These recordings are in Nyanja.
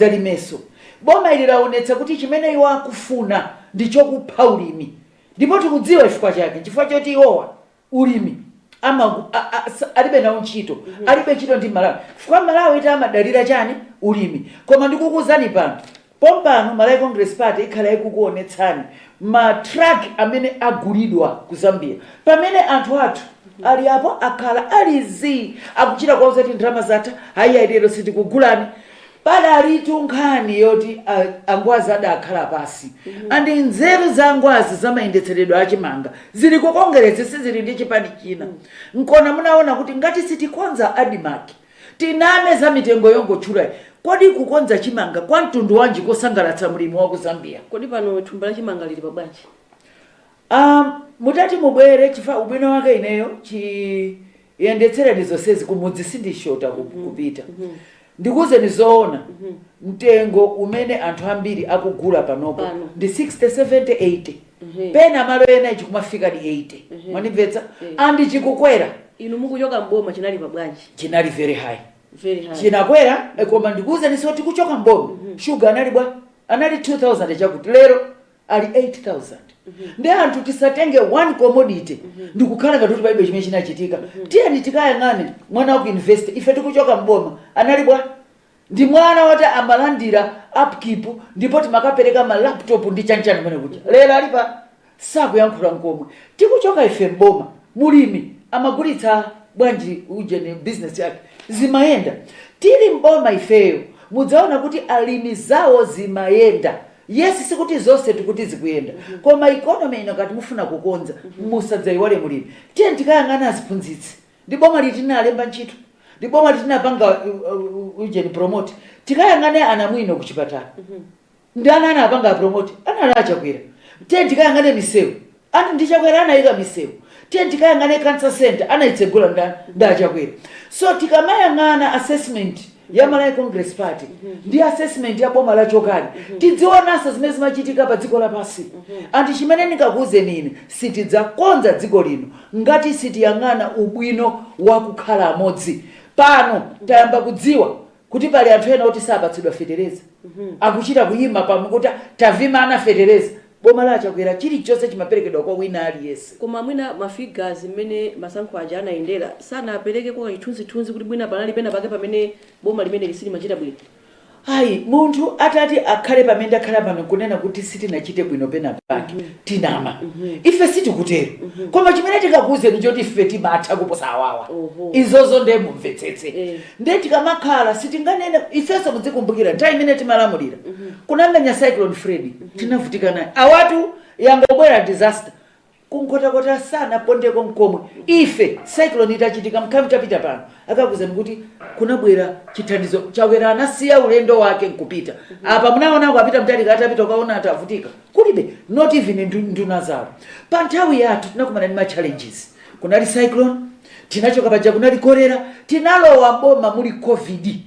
Zalimeso. Boma ili laonetsa kuti chimene iwo akufuna ndicho kupha ulimi ndipo tikudziwa chifukwa chake nchifukwa choti iwowa ulimi ama a a sa alibe nawo ntchito alibe ntchito ndi Malawi chifukwa Malawi eti amadalira chani ulimi koma ndikukuuzani pano pompano Malawi Congress Party ikhala ikukuonetsani ma truck amene agulidwa ku Zambia pamene anthu athu ali apo akhala ali zii akuchita kuwauza kuti ndalama zatha ayiya lero sitikugulani Padalitu nkhani yoti a Angwazi adakhala pansi and nzeru za Angwazi za mayendetseredwe a chimanga zili ku Kongeresi sizili ndi chipani china. Nkona munaona kuti ngati sitikonza Admarc tiname za mitengo yongotchulayi kodi kukonza chimanga kwa mtundu wanji kosangalatsa mlimi wa ku Zambia? Kodi pano thumba la chimanga lili pa bwanji? Aaa mutati mubwere chifa ubwino wake ineyo chi Yendetsereni zonsezi kumudzi sindishota kupita. Ndikuuzeni zoona mtengo umene anthu ambiri akugula panopo ndi 60, 70, 80 pena malo ena chikumafikadi 80 mwandimvetsa and chikukwera. Inu mmene mukuchoka m'boma chinali pa bwanji? Chinali very high. Very high. Chinakwera koma ndikuuzeninso tikuchoka m'boma sugar anali bwa? Anali 2000 chakuti lero ali 8000 ndi anthu tisatenge one commodity ndikukhala ngati kuti palibe chimene chinachitika tiyeni tikayang'ane mwana wa ku university ife tikuchoka mboma anali bwa ndi mwana woti amalandira upkeep ndipo timakapereka ma laptop ndi chanchani kumene kuja lero ali pa sakuyankhula nkomwe tikuchoka ife mboma mulimi amagulitsa bwanji ujeni business yake zimayenda tili mboma ifeyo mudzaona kuti alimi zawo zimayenda Yes sikuti zonse tikuti zikuyenda koma economy ino ngati mufuna kukonza musadzaiwale mulimi. Tiyeni tikayang'ane aziphunzitsi ndi boma liti linalemba ntchito? Ndi boma liti linapanga ujeni promote? Tikayang'ane anamwino kuchipatala ndani anawapanga promote? Anali a Chakwera. Tiyeni tikayang'ane misewu And ndi a Chakwera anayika misewu. Tiyeni tikayang'ane cancer centre anayitsegula ndani? Ndi a chakwera. So tikamayang'ana assessment ya Malawi congress party ndi assessment ya boma lochokali tidziwonanso zimene zimachitika pa dziko lapansi. And chimene ndingakuwuzeni ine sitidzakonza dziko lino ngati sitiyang'ana ubwino wa kukhala amodzi. Pano tayamba kudziwa kuti pali anthu ena oti sapatsidwa fetereza mm -hmm. akuchita kuyima pa mic kuti tawamana fetereza boma la achakwera chilichonse chimaperekedwa kwa wina aliyense koma mwina ma figures mmene masankho aja anayendera sanaperekeko chithunzithunzi kuti mwina panali pena pake pamene boma limene lija silimachita bwino ayi munthu atati akhale pamene ndakhala pano kunena kuti sitinachite bwino pena pake mm -hmm. tinama ife sitikutero koma chimene tikakuuzeni choti ife timatha kuposa awawa Oho. izozo ndiye mumvetsetse Eh. ndiye tikamakhala sitinganene ifenso mudzikumbukira nthawi imene timalamulira kunamenya cyclone Freddy tinavutika naye awatu yangobwera disaster ku Nkhotakota sanapondeko mkomwe ife cyclone itachitika mkhamu tapita pano akakuuzani kuti kunabwera chithandizo Chakwera anasiya ulendo wake nkupita apa munaona a Peter Mutharika atapita ukaona atavutika kulibe not even ndu- nduna zawo pa nthawi yathu tinakumana ndi ma challenges kunali cyclone tinachoka paja kunali kolera tinalowa boma muli covid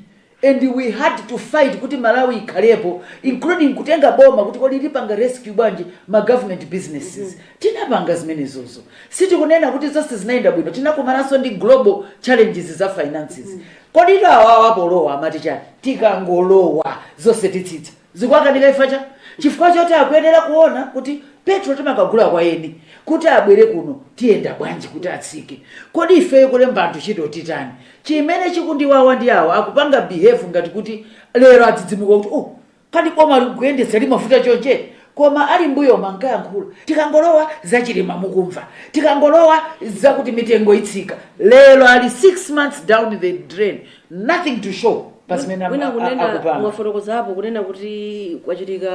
and we had to fight kuti Malawi ikhalepo including kutenga boma kuti kodi lipanga rescue bwanji ma government businesses tinapanga zimenezozo sitikunena kuti zonse zinayenda bwino tinakumananso ndi global challenges za finances kodi awawa polowa amati chani tikangolowa zonse titsitsa Zikuwakanika chifukwa cha? Chifukwa choti akuyenera kuona kuti petrol timakagula kwa eni, kuti abwere kuno tiyenda bwanji kuti atsike. Kodi ifeyo kulemba anthu ntchito titani? Chimene chikundiwawa ndi awa akupanga behave ngati kuti lero adzidzimuka kuti ooh kani bomali kuyendetsa limavuta chonchi? Koma ali mbuyomu ankayankhula tikangolowa za Chilima mukumva, tikangolowa zakuti mitengo itsika. Lero ali 6 months down the drain nothing to show pa zimene am- wina a- kunena akupanga mwafotokozapo kunena kuti kwachitika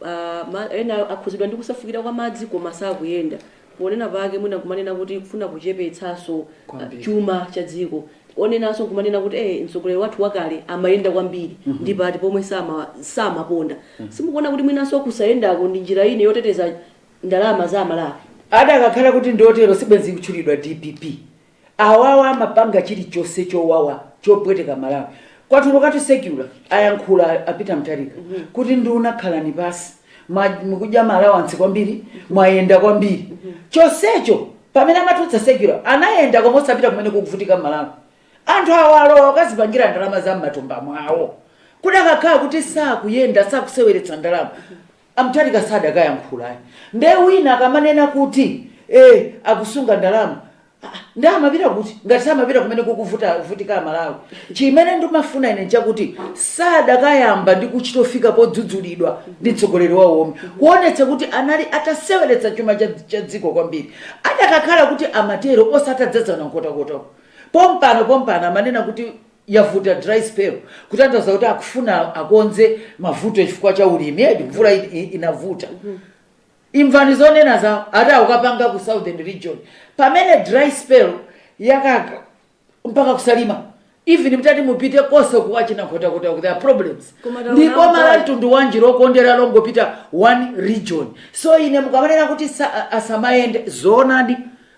ah, ma- ena akhuzidwa ndi kusefukira kwa madzi koma sakuyenda ponena pake mwina kumanena kuti kufuna kuchepetsanso ah, Kwambiri. chuma cha dziko onenanso kumanena kuti eh, mtsogoleri wathu wakale amayenda kwambiri ndi pati pomwe sama- samaponda simukuona kuti mwinanso kusayendako ndi njira ina yoteteza ndalama za a Malawi adakakhala kuti ndi otero sibwenzi kutchulidwa DPP Awawa amapanga chilichonse chowawa chopweteka Malawi. Kwatulukatu circular ayankhula a Peter Mutharika kuti nduna khalani pasi mwa- mukudya ma allowance kwambiri mwayenda kwambiri chonsecho pamene amatulutsa circular anayenda koma osapita kumene kukuvutika Malawi. Anthu awa alowa akazipangira ndalama za m'matumba mwawo kudakakhala kuti sakuyenda sakuseweretsa ndalama A Mutharika sadakayankhula ayi nde wina akamanena kuti ee akusunga ndalama aah nde amapita kuti ngati samapita kumene kukuvutika a Malawi. Chimene ndimafuna ine nchakuti sadakayamba ndi kuchitofika podzudzulidwa ndi mtsogoleri wawo womwe kuonetsa kuti anali ataseweretsa chuma cha dziko kwambiri. Adakakhala kuti amatero ose atadzadzana Nkhotakota uku pompano pompano amanena kuti yavuta dry spell kutanthauza kuti akufuna akonze mavuto chifukwa cha ulimi and mvula i- i- inavuta imvani zonena zawo ati akukapanga ku southern region pamene dry spell yakaka mpaka ku Salima even mutati mupite konse kwa achina Nkhotakota there are problems Koma taona ndipo kuti- boma la mtundu wanji lokondera longopita one region so ine mukamanena kuti sa- asamayende zoonadi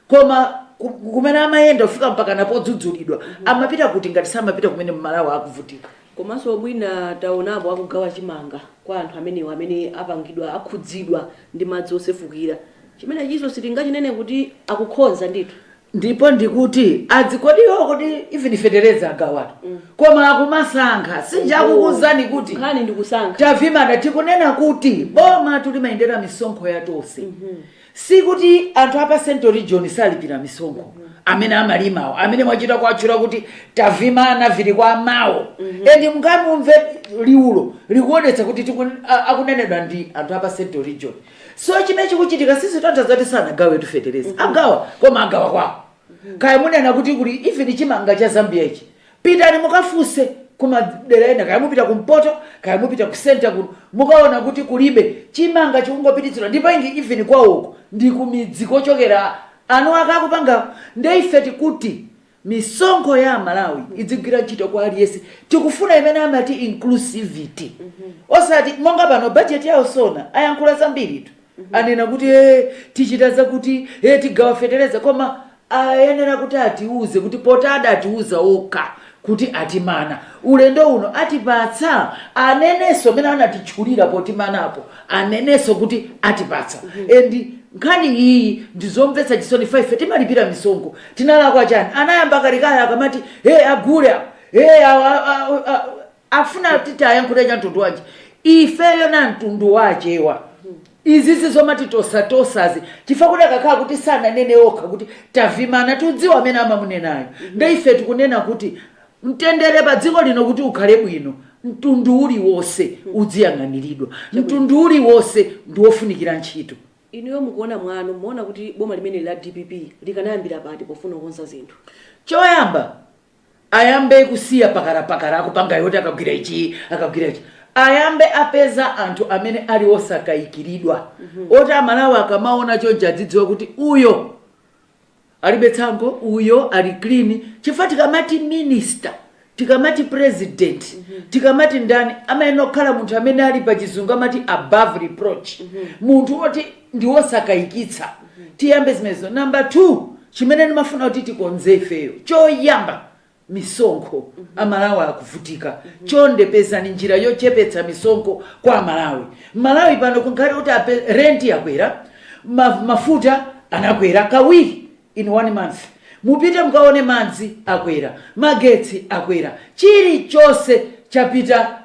Koma ku, kumene amayenda kufika mpakana podzudzulidwa amapita kuti ngati samapita kumene mmalawa akuvutika. Komanso mwina taonapo akugawa chimanga kwa anthu amenewa amene apangidwa, akhudzidwa ndi madzi osefukira. Chimenechinso sitingachinene kuti akukhoza ndithu. Ndipo ndikuti adzi kodi iwowo kodi even fetereza agawatu koma akumasankha si nja Oho, akukuuzani kuti nkhani ndikusankha. tavimana tikunena kuti bomatu limayendera misonkho ya tonse Sikuti anthu a pa central region sakulipira misonkho amene amalimawo amene mwachita kuwatchula kuti tavimana vili kwa mawu and mungamumve liwulo likuonetsa kuti tiku- a- akunenedwa ndi anthu a pa central region so chimene chikuchitika sizitanthauza zoti sanagawetu fetereza agawa koma agawa kwawo kaya munena kuti kuli even chimanga cha zambia ichi pitani mukafunse kumadera ena kaya mupita kumpoto kaya mupita ku center kuno mukaona kuti kulibe chimanga chikungopititsidwa ndipo ingi even kwawoko ndi kumidzi kochokera anthu ake akupangawo nde ife tikuti misonkho ya amalawi idzigwira ntchito kwa aliyense tikufuna imene amati inclusivity osati monga pano bajeti yawo sona ayankhula zambiri tu anena kuti e tichita zakuti e tigawa fetereza koma ayenera kuti atiuze kuti poti adatiuza okha kuti atimana ulendo uno atipatsa anenenso amene anatitchulira potimanapo anenenso kuti atipatsa and nkhani iyi ndizomvetsa chisoni ife timalipira misonkho tinalakwa chani anayamba kalekale akamati e agule awa e awa a- a- a- afuna kuti tiwayankhule cha mtundu wanji ifeyo na mtundu wa achewa izizi zomati tosatosazi chifukwa chakuti akanakhala kuti sananene okha kuti tavimana tudziwa amene amamunenayo nde ife tikunena kuti mtendere pa dziko lino kuti ukhale bwino mtundu uliwonse udziyang'aniridwa mtundu uliwonse ndi wofunikira ntchito inuyo mukuona mwanu muona kuti boma limeneli la dpp likanayambira pati pofuna kukonza zinthu choyamba ayambe kusiya phakaraphakara akupanga yoti akagwira ichi akagwira ichi ayambe apeza anthu amene ali osakayikiridwa oti amalawi akamaona chonchi adzidziwa kuti uyo alibe tsankho uyo ali clean chifukwa tikamati minister tikamati president tikamati ndani amayenera kukhala munthu amene ali pa chizungu amati above reproach munthu oti ndi wosakayikitsa. Tiyambe zimenezo. Number two, chimene ndimafuna kuti tikonze ifeyo, choyamba misonkho. Amalawi akuvutika. Chonde pezani njira yochepetsa misonkho kwa Amalawi. Malawi pano kukhale kuti ape, rent yakwera, ma, mafuta anakwera kawiri in one month. Mupite mukaone madzi akwera, magetsi akwera, chilichonse chapita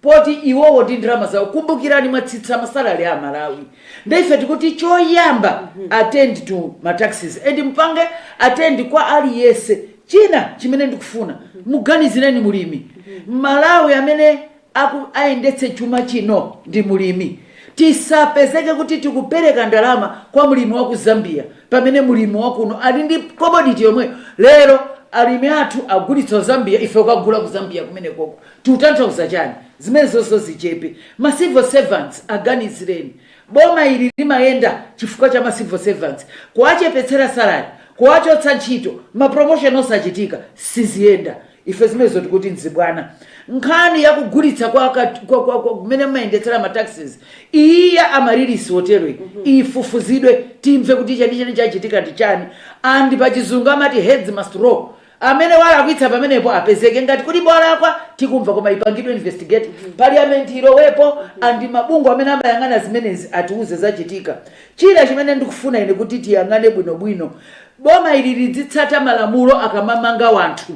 poti iwowo ndi ndalama zawo kumbukirani mwatsitsa masalary a malawi nde ife tikuti choyamba attend to ma taxes and mupange attend kwa aliyense china chimene ndikufuna muganizireni mulimi malawi amene aku- ayendetse chuma chino ndi mulimi tisapezeke kuti tikupereka ndalama kwa mulimi wa ku zambia pamene mulimi wakuno ali ndi commodity yomweyo lero alimi athu agulitsa zambia ife ukagula ku zambia kumenekoko Tutanthauza chani? Zimenezozo zichepe. Ma civil servants aganizireni. Boma ili limayenda chifukwa cha ma civil servants. Kuwachepetsera salary, kuwachotsa ntchito, ma promotion osachitika, siziyenda. Ife zimenezo tikuti nzibwana. Nkhani ya kugulitsa kwa ka, kwa, kwa, kwa, kumene mumayendetsera ma taxes, iyi ya Amaryllis hoteloyi, ifufuzidwe, timve kuti chenicheni chachitika ndi chani. And pachizungu amati heads must roll. amene walakwitsa pamenepo apezeke ngati kuli kolakwa tikumva koma ipangidwe investigate parliament ilowepo andi mabungwe amene amayang'ana zimenezi atiuze zachitika china chimene ndikufuna ine kuti tiyang'ane bwinobwino boma ili lidzitsata malamulo akamamanga wanthu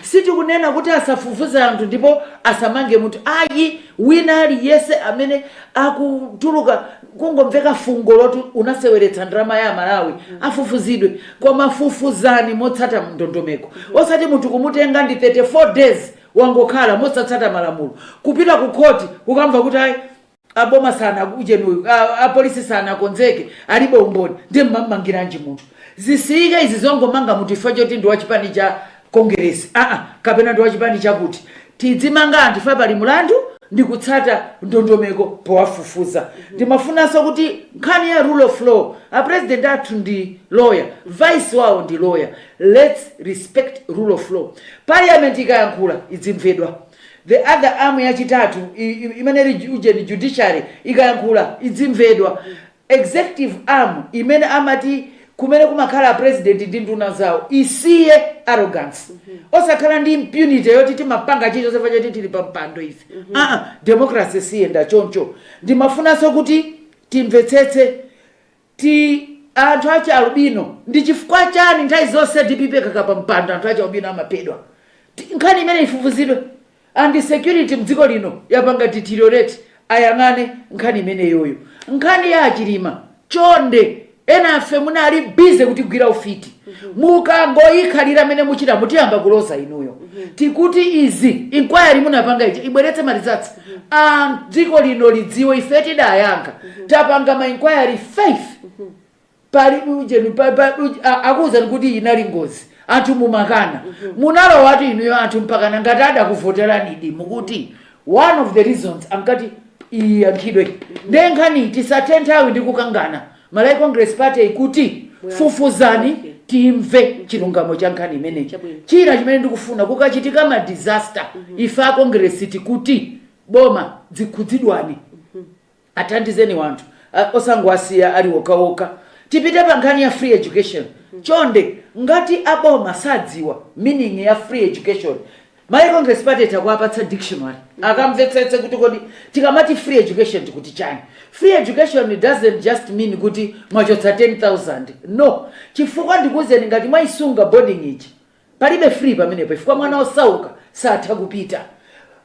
sitikunena kuti asafufuze anthu ndipo asamange munthu ayi wina aliyense amene akutuluka kungomveka fungo loti unaseweretsa ndalama ya malawi afufuzidwe Koma fufuzani motsata ndondomeko osati munthu kumutenga ndi 34 days wangokhala mosatsata malamulo kupita ku khoti kukamva kuti ayi a boma sanaujeni uyu, a polisi sanakonzeke, alibe umboni ndiye mumamumangiranji munthu? Zisiyike izi zongomanga munthu chifukwa choti ndi wa chipani cha Kongeresi, aa kapena ndi wachipani chakuti. Tidzimanga anthu chifukwa pali mlandu ndi kutsata ndondomeko powafufuza. Ndimafunanso kuti nkhani ya rule of law, a president athu ndi lawyer, vice wawo ndi lawyer, lets respect rule of law. Parliament ikayankhula idzimvedwa. The other arm yachitatu, i, i, imene ili ujeni, judiciary, ikayankhula idzimvedwa. Executive arm imene amati kumene kumakhala a president ndi nduna zawo isiye arrogance osakhala ndi impunity yoti timapanga chilichonse chifukwa choti tili pa mpando ife aa democracy siyenda choncho ndimafunanso kuti timvetsetse ti anthu achi albino ndi chifukwa chani nthawi zonse dpp ikakhala pa mpando anthu achi albino amaphedwa Ti- nkhani imeneyi ifufuzidwe And security mdziko lino yapanga deteriorate ayang'ane nkhani imeneyoyo. Nkhani ya achilima chonde enafe munali busy kutigwira ufiti mukangoyikhalira mene muchitamu tiyamba kuloza inuyo tikuti izi inquiry munapanga ija ibweretse ma results a dziko lino lidziwe ife tidayankha tapanga ma inquiry 5 palibe ujeni pa- pa- uj- a- akuwuzani kuti inali ngozi anthu mumakana munalowatu inuyo anthu mpakana ngati adakuvoteranidi ndikuti one of the reasons ankati iyankhidwe nde nkhani tisathe nthawi ndi kukangana malawi congress party ikuti fufuzani timve chilungamo cha nkhani imeneyi Chabwino. china chimene ndikufuna kukachitika ma disaster ife a congress tikuti boma zikhudzidwani Athandizeni wanthu osangowasiya ali wokhawokha. Tipite pa nkhani ya free education chonde ngati a boma sadziwa meaning ya free education malawi congress party itha kuwapatsa dictionary akamvetsetse kuti kodi tikamati free education tikuti chani. Free education doesn't just mean kuti mwachotsa 10,000 no chifukwa ndikuuzeni ngati mwaisunga boarding fee Palibe free pamenepo chifukwa mwana osauka satha kupita.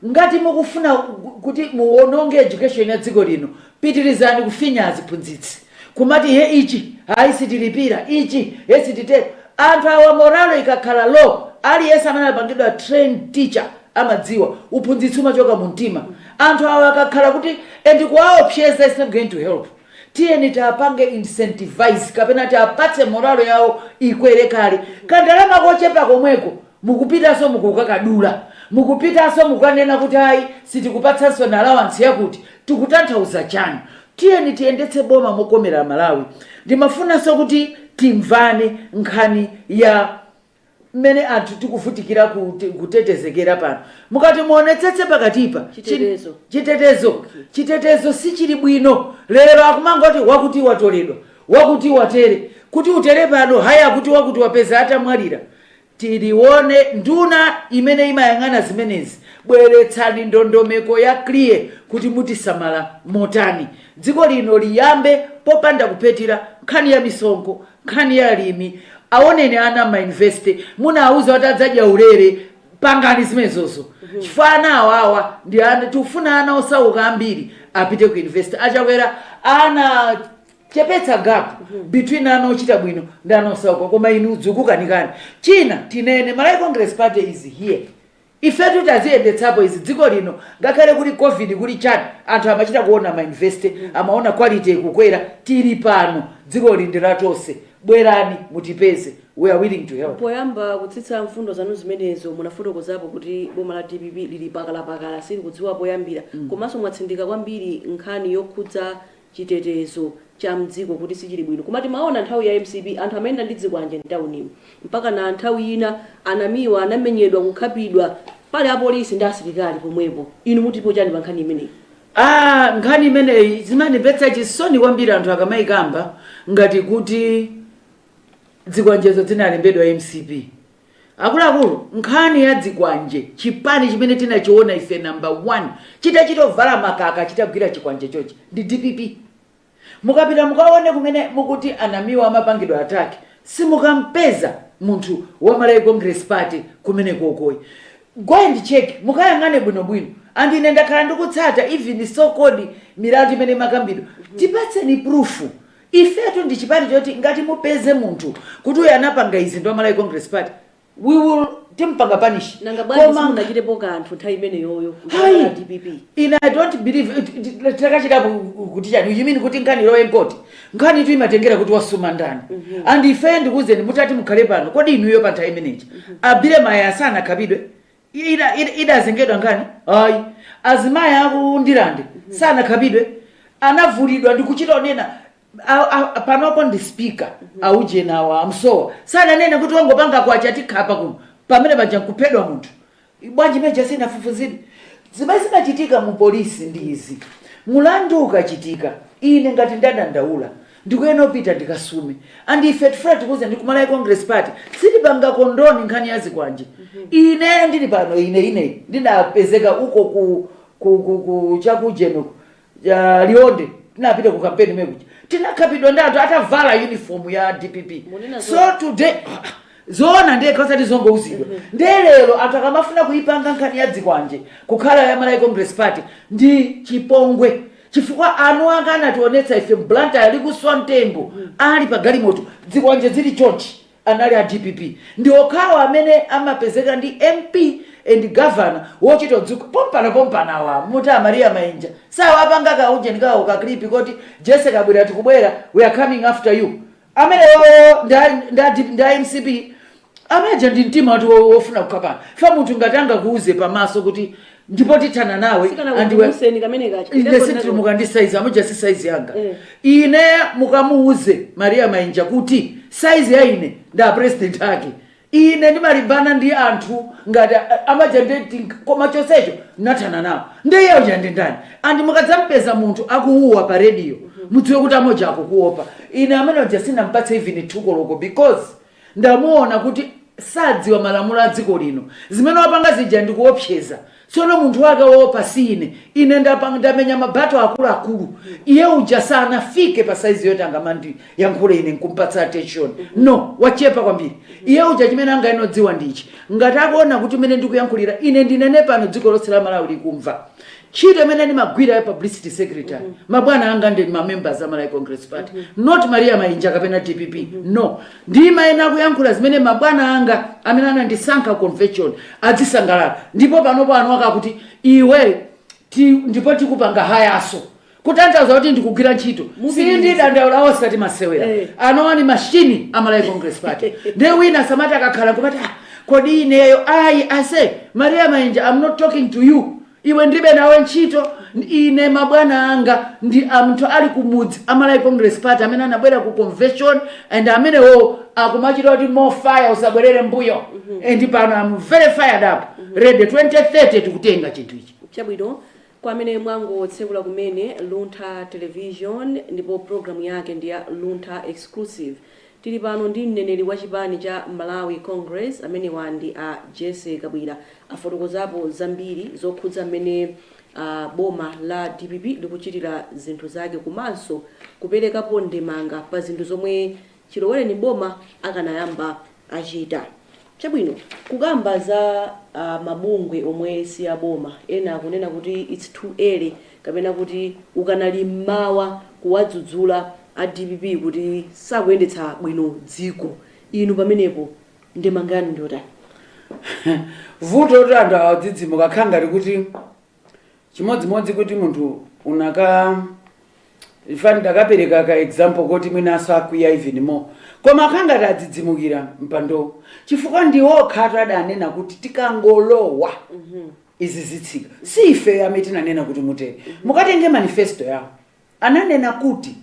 Ngati mukufuna kuti muononge education ya dziko lino pitirizani kufinya aziphunzitsi kumati he ichi ayi sitilipira ichi he sititero. Anthu awa morale ikakhala low aliyense amene anapangidwa trained teacher amadziwa uphunzitsi umachoka mumtima. Anthu awa akakhala kuti and kuwaopseza is not going to help. tiyeni tiapange incentivize kapena tiapatse morale yawo ikwere kale kandalama kochepa komweko mukupitanso mukukakadula mukupitanso mukanena kuti ayi sitikupatsansoni allowance yakuti tikutanthauza chani tiyeni tiyendetse boma mokomera amalawi ndimafunanso kuti timvane nkhani ya mmene anthu tikuvutikira kut- kutetezekera pano mukati muonetsetse pakatipa chi- Chitetezo. chitetezo Okay. chitetezo sichili bwino lero akumangoti wakuti watoledwa wakuti watere kuti utere pano hayi akuti wakuti wapeza atamwalira tilione nduna imene imayang'ana zimenezi bweretsani ndondomeko ya clear kuti mutisamala motani dziko lino liyambe popanda kuphetira nkhani ya misonkho nkhani ya alimi awoneni ana ma university munawuza kuti adzadya ulere pangani zimenezozo chifukwa ana awawa ndi ana tikufuna ana osauka ambiri apite ku university Achakwera anachepetsa gap between ana ochita bwino ndi ana osauka koma inu zikukukanikani china tinene malawi congress party is here Ifetu taziyendetsapo izi dziko lino ngakhale kuli covid kuli chani anthu amachita kuona ma university amaona quality ikukwera tili pano dzikoli ndi la tonse bwerani mutipeze we are willing to help. Poyamba kutsitsa mfundo zanu zimenezo munafotokozapo kuti boma la dpp lili pakalapakala silikudziwa poyambira komanso mwatsindika kwambiri nkhani yokhudza chitetezo cha mdziko kuti sichili bwino koma timaona nthawi ya mcp anthu amayenda ndi dzikwanje mtaunimu mpakana nthawi ina a Namiwa anamenyedwa kukhapidwa pali apolisi ndi asilikali pomwepo inu mutipo chani pa nkhani imeneyi? Aaa nkhani imeneyi zimandimvetsa chisoni kwambiri anthu akamaikamba ngati kuti dzikwanjezo dzinalembedwa mcp. Akuluakulu, nkhani ya dzikwanje, chipani chimene tinachiona ife number one chitachita kuvala makaka chitagwira chikwanje chonchi ndi dpp. Mukapita mukaone kumene mukuti a Namiwa amapangidwa attack simukampeza munthu wa Malawi Congress Party kumenekoko ayi. Go and check, mukayang'ane bwinobwino and ine ndakhala ndikutsata even so called milandu imene imakambidwa. Tipatseni proof Ifetu ndi chipani choti ngati mupeze munthu kuti uyu anapanga izi ndi wa Malawi Congress Party we will timupanga punish Nanga bwanji koma simunachitepo kanthu nthawi imeneyoyo Hai! kuchokera dpp? ine i don't believe it- it- it- takachitapo kuti chani you mean kuti nkhani ilowe mkhoti nkhanitu imatengera kuti wasuma ndani and ife ndikuwuzeni mutati mukhale pano kodi inuyo pa nthawi imeneyi a Billy Mayaya sanakhapidwe Iye ida ida idazengedwa nkhani ayi azimayi aku Ndirande sanakhapidwe anavulidwa ndikuchita onena a, a, panopo ndi speaker aujeni awa a Musowa sananene kuti wangopanga kwacha tikhapa kuno pamene paja nkuphedwa munthu bwanji meja sinafufuzidwe zimene zimachitika mu polisi ndi izi mulandu ukachitika ine ngati ndadandaula Ndikuyenera kupita ndikasume and ife tifuna tikuuzeni kumalawi congress party sitipanga condone nkhani ya zikwanje ineyo ndili pano ine ine ndinapezeka uko ku ku ku ku chakujeni uko ya Liwonde tinapita ku kampeni mekuja tinakhapidwa ndi anthu atavala uniform ya dpp Munena so zoona. today zoona ndekha osati zongouzidwa ndiye lero anthu akamafuna kuipanga nkhani ya dzikwanje kukhala ya malawi congress party ndi chipongwe Chifukwa anuwanga anationetsa ife mu Blantyre likuswa mtengo ali pa galimoto dzikwanje dzili chonchi anali a dpp ndi okhawo amene amapezeka ndi mp and governor wochita kudzuka pompano pompano awa muti a Maria Mainja si awa apanga ka ujeni kawo ka clip koti Jessy Kabwila tikubwera we are coming after you amenewowo ndi a- ndi a D- ndi a mcp amaja ndi mtima wati wo- wofuna kukhapana fa munthu ngati angakuuze pamaso kuti ndipo tithana nawe sikana andiwe kumuseni kamene kacho ine sinditutumuka ndi saizi amuja si saizi yanga Eh. ine mukamuuze maria mainja kuti saizi ya ine ndi apresident ake Ine ndimalimbana ndi anthu ngati a, a, amaja nde tink koma chonsecho ndinathana nawo. Nde iye uja ndi ndani? And mukadzampeza munthu akuwuwa pa radio mudziwe kuti ameneyo akukuopa. Ine amene uja sindinampatse even two koloko because ndamuona kuti sadziwa malamulo a dziko lino. Zimene wapanga zija ndi kuopseza. Tsono munthu wake woopa si ine. Ine, ine ndamenya ma battle akuluakulu. Iye uja sanafike pa size yoti angandiyankhule ine nkumpatsa attention. No, wachepa kwambiri. Iye uja chimene angayenere kudziwa ndi ichi, ngati akuona kuti mmene ndikuyankhulira ine ndinene pano dziko lonse la Malawi likumva. Ntchito imene ndimagwira ya publicity secretary, mabwana anga ndi ma members a Malawi Congress Party, not Maria Mainja kapena dpp. No, ndimayenera kuyankhula zimene mabwana anga amene anandisankha convention adzisangalala ndipo panopo anu akuti iwe ndipo tikupanga hayaso kutanthauza kuti ndikugwira ntchito. sindidandaula, osati masewera. Anowa ni mashini a malawi congress party ndiye wina asamati akakhala kumati "Ah, kodi ineyo I say maria mainja i'm not talking to you Iwe ndilibe nawe ntchito, ine mabwana anga ndi anthu ali kumudzi a Malawi Congress Party amene anabwera ku convention and amenewowo akumachita kuti more fire usabwerere mbuyo and pano I'm very fired up ready 2030 tikutenga chinthu ichi. Chabwino, kwa amene mwangotsekula kumene Luntha Television ndipo program yake ndi ya Luntha Exclusive Tili pano ndi mneneri wa chipani cha Malawi Congress amenewa ndi a Jessie Kabwila afotokozapo zambiri zokhudza mmene boma la dpp likuchitira zinthu zake komanso kuperekapo ndemanga pa zinthu zomwe chilowereni boma akanayamba achita. Chabwino, kukamba za mabungwe omwe si a boma, ena akunena kuti it's too early kapena kuti ukanali m'mawa kuwadzudzula a dpp kuti sakuyendetsa bwino dziko. Inu pamenepo ndemanga yanu ndiyotani? Vuto anthu awa odzidzimuka akhala ngati kuti chimodzimodzi kuti munthu unaka eh, funa ndipereke ka example koti mwina asakwiya even more koma akhala ngati adzidzimukira mpandowo chifukwa ndi okhatu adanena kuti tikangolowa izi zitsika si ife amene tinanena kuti mutere mukatenge manifesto yawo ananena kuti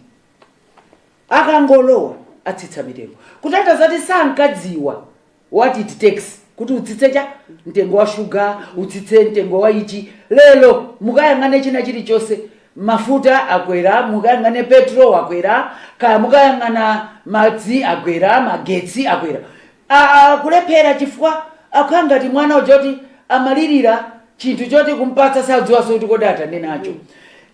akangolowa atsitsa mitengo kutanthauza kuti sankadziwa what it takes kuti utsitse cha? mtengo wa shuga, utsitse mtengo wa ichi. Lero mukayang'ane china chilichonse, mafuta akwera, mukayang'ane petro wakwera, kaya mukayang'ana madzi akwera, magetsi akwera. Kulephera chifukwa akhala ngati mwana uja woti amalirira chinthu choti kumpatsa sadziwanso kuti kodi atani nacho.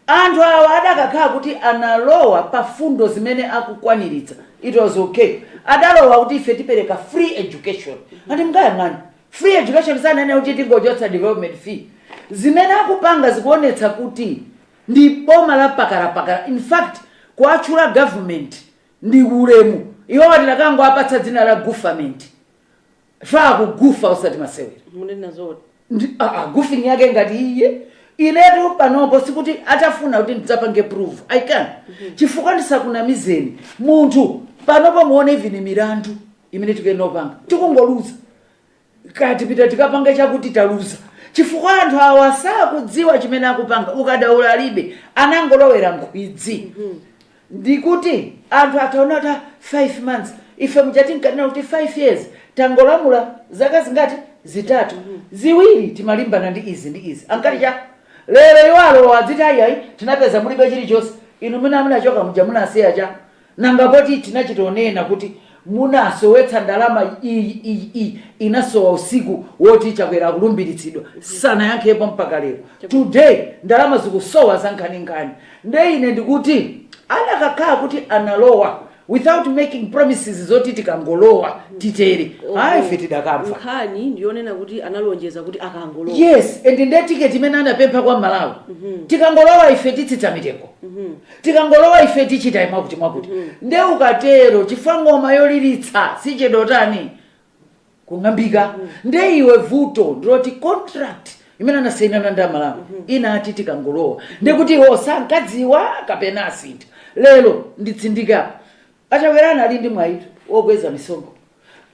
Anthu awa adakakhala kuti analowa pa fundo zimene akukwaniritsa it was ok. Adalowa kuti ife tipereka free education and mukayang'ana free education sananena kuti tingochotsa development fee. Zimene akupanga zikuonetsa kuti ndi boma la pakalapakala in fact kuwatchula government ndi ulemu iwowa tidakangoapatsa dzina la gufament. Faa kugufa osati masewera. mukunena zoti Ndi- ah, ah, goofing yake ngati iye inetu panopo sikuti atafuna kuti ndidzapange prove i can chifukwa ndisakunamizeni munthu panopo muone even milandu imene tikuyenera kupanga tikungoluza kaya tipita tikapange chakuti taluza chifukwa anthu awa sakudziwa chimene akupanga ukadaula alibe anangolowera nkhwidzi ndikuti anthu ataona kuti ah 5 months ife muja tinkanena kuti 5 years tangolamula zaka zingati zitatu ziwiri timalimbana ndi izi ndi izi ankati chani lero iwo alowa adziti ayiayi tinapeza mulibe chilichonse inu mene amunachoka muja munasiya cha nanga poti tinachitonena kuti Munasowetsa ndalama iyi iyi iyi inasowa usiku woti Chakwera akulumbiritsidwa sanayankhepo mpaka lero today ndalama zikusowa zankhaninkhani nde ine ndikuti anakakhala kuti analowa without making promises zoti tikangolowa titere ayi ife tidakamva nkhani ndiyonena kuti analonjeza kuti akangolowa yes and nde ticket imene anapempha kwa Mmalawi tikangolowa ife titsitsa mitengo Tikangolowa ife tichita mwakuti mwakuti nde ukatero chifukwa ng'oma yoliritsa sichedwa kutani, kung'ambika. Nde iwo vuto ndiloti contract imene anasainirana ndi Amalawi inati tikangolowa, ndekuti iwo sankadziwa kapena asintha? Lero nditsindike apa, Achakwera anali ndi mwayitu wokweza misonkho,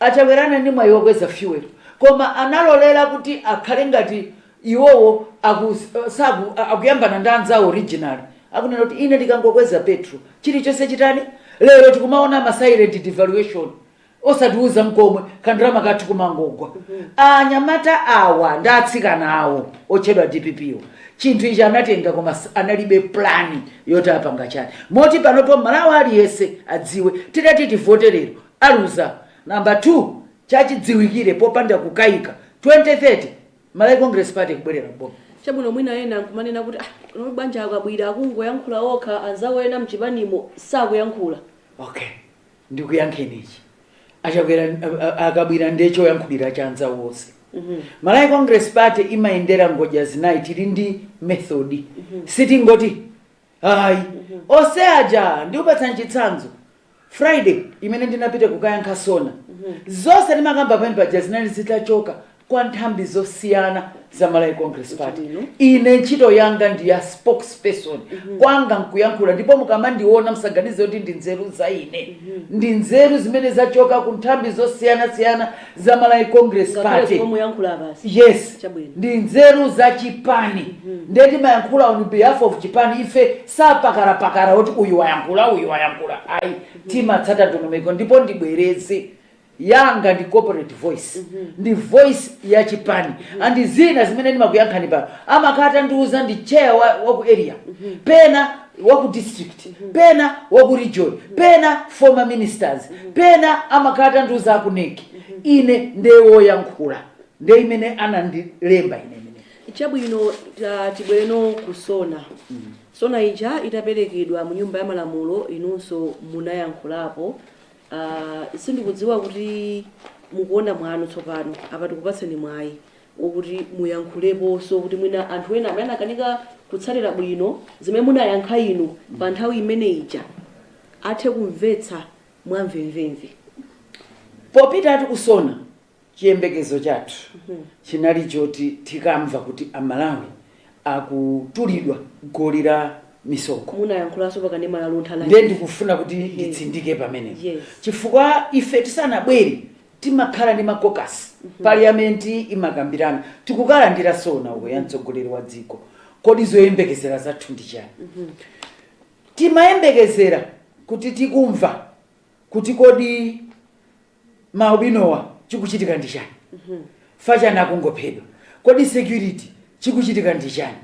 Achakwera anali ndi mwayi wokweza fuel koma analolera kuti akhale ngati iwowo aku saku akuyambana ndi anzawo originally akunena kuti ine ndikangokweza petrol chilichonse chitani, lero tikumaona ma silent devaluation osatiuza nkomwe kandalama kathu kumangogwa, anyamata awa ndi atsikana awa otchedwa dpp wa. chinthu ichi anatenga koma analibe plan yoti apanga chani moti panopo Mmalawi aliyense adziwe titati tivote lero aluza number 2 chachidziwikire popanda kukaika 2030 malawi congress party ikubwerera m'boma. Chabwino mwina ena nkumanena kuti ah, ndi banja a Kabwila akungoyankhula okha anzawo ena mchipanimo sakuyankhula. Okay. ndikuyankheni ichi achakwera a- a- a Kabwila ndiye choyankhulira cha anzawo onse malawi congress party imayendera ngodya zinayi tili ndi method sitingoti ayi onse aja ndikupatsani chitsanzo friday imene ndinapita kukayankha SONA zonse ndimakamba pamene paja zinali zitachoka kwa nthambi zosiyana za Malawi Congress Party. Ine ntchito yanga ndi ya spokesperson mm -hmm. kwanga nkuyankhula ndipo mukamandiona msaganize kuti ndi nzeru za ine mm -hmm. ndi nzeru zimene zachoka ku nthambi zosiyana siyana za Malawi Congress Party. Yes. Ndi nzeru za chipani. Mm -hmm. Ndiye timayankhula on behalf of chipani ife siapakalapakala kuti uyu wayankhula uyu wayankhula. Ayi mm -hmm. timatsata ndondomeko ndipo ndibwereze. yanga ndi corporate voice ndi voice ya chipani andi zina zimene ndimakuyankhani pano amakhala atandiuza ndi chair wa, wa ku area pena wa ku district pena wa ku region pena former ministers pena amakhala atandiuza a ku NEC ine ndiye woyankhula ndiye imene anandilemba ine chabwino ta- tibwere no ku SONA SONA ija itaperekedwa mu nyumba ya malamulo inunso munayankhulapo Uh, sindikudziwa kuti mukuona kwanu tsopano apa tikupatseni mwayi okuti muyankhuleponso kuti mwina anthu ena amene anakanika kutsatira bwino zimene munayankha inu pa nthawi imene ija athe kumvetsa mwamvemvemve. Popitatu ku SONA. Chiyembekezo chathu chinali choti tikamva kuti Amalawi akutulidwa goli la misonkho. Munayankhulanso pa kanema la Luntha ife. Ndiye ndikufuna kuti nditsindike pamenepo chifukwa ife tisanabwere timakhala ndi ma caucus, parliament imakambirana, tikukalandira SONA uko ya mtsogoleri wa dziko. Kodi zoyembekezera zathu ndi chani? Timayembekezera kuti tikamva kuti kodi. maalubinowa chikuchitika ndi chani chifukwa chani akungophedwa kodi security chikuchitika ndi chani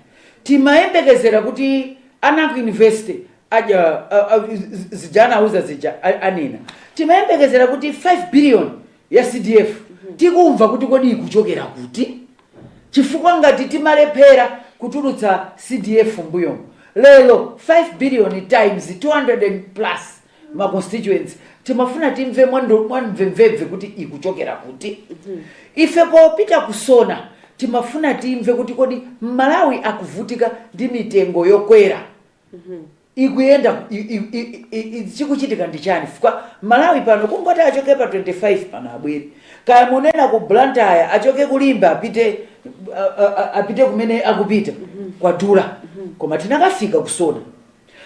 timayembekezera kuti ana aku university aja a- a- z- zija anauza zija a- anena timayembekezera kuti 5 billion ya cdf tikamva kuti kodi ikuchokera kuti chifukwa ngati timalephera kutulutsa cdf mbuyomo lero 5 billion times 200 and plus ma constituencies timafuna timve mwando- mwamvemvemve kuti ikuchokera kuti ife popita ku SONA timafuna timve kuti kodi mmalawi akuvutika ndi mitengo yokwera ikuyenda i- i- i- i- i- chikuchitika ndi chani chifukwa mmalawi pano kungoti achoke pa 25 pano abwere kaya munena ku blantyre achoke ku limbe apite a- a- a- apite kumene akupita kwadula koma titakafika ku SONA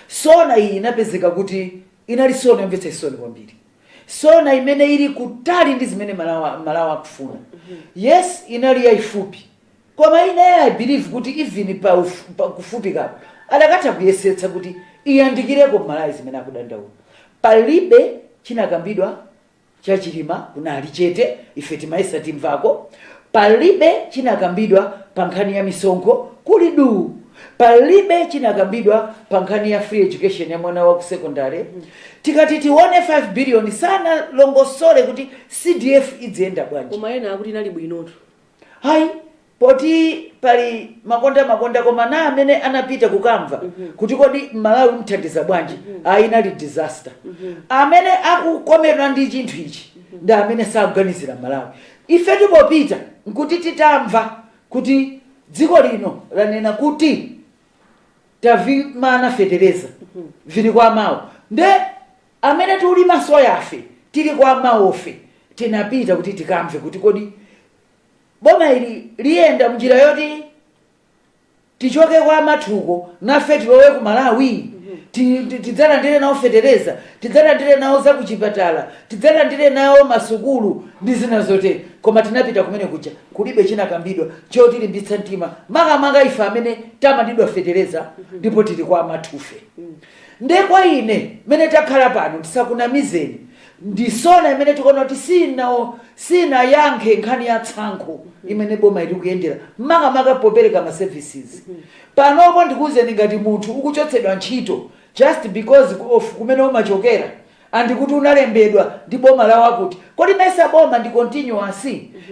Sona iyi inapezeka kuti inali sona yomvetsa chisoni kwambiri, sona imene ili kutali ndi zimene Mmalawi, Mmalawi akufuna. Yes, inali yaifupi, koma ine I believe kuti even pa, uf, pa kufupikapo adakatha kuyesetsa kuti iyandikireko Mmalawi zimene akudandaula. Palibe chinakambidwa cha chilima kunali chete ife timayesa timvako palibe chinakambidwa pa nkhani ya misonkho kuli duu palibe chinakambidwa pa nkhani ya free education ya mwana wa ku secondary tikati tione 5 billion sanalongosole kuti cdf idziyenda bwanji koma ena akuti inali bwinotu hayi poti pali makonda makonda koma na amene anapita kukamva mhm. kuti kodi mmalawi mthandiza bwanji mhm. ayi inali disaster mhm. amene akukomedwa ndi chinthu ichi ndi amene sakuganizira mmalawi ife tipopita nkuti titamva kuti dziko lino lanena kuti tavimana fetereza vili kwa amawo nde Amene tulima soyafe tili kwa amawofe tinapita kuti tikamve kuti kodi boma ili liyenda mnjira yoti tichoke kwa amathuko nafe tilowe ku Malawi ti, ti, tidzalandire nawo fetereza tidzalandire nawo zakuchipatala tidzalandire nawo masukulu ndi zina zotere koma tinapita kumene kuja kulibe chinakambidwa chotilimbitsa mtima makamaka ife amene tamanidwa fetereza ndipo tili kwa amathufe Nde kwa ine mene takhala pano tisakunamizeni ndi sona imene tikuona kuti siinayankhe nkhani ya tsankho imene boma ili likuyendera makamaka popereka ma services. Panopo ndikuuzeni ngati munthu ukuchotsedwa ntchito just because of kumene umachokera and kuti unalembedwa ndi boma la wakuti, kodi mesa boma ndi continuous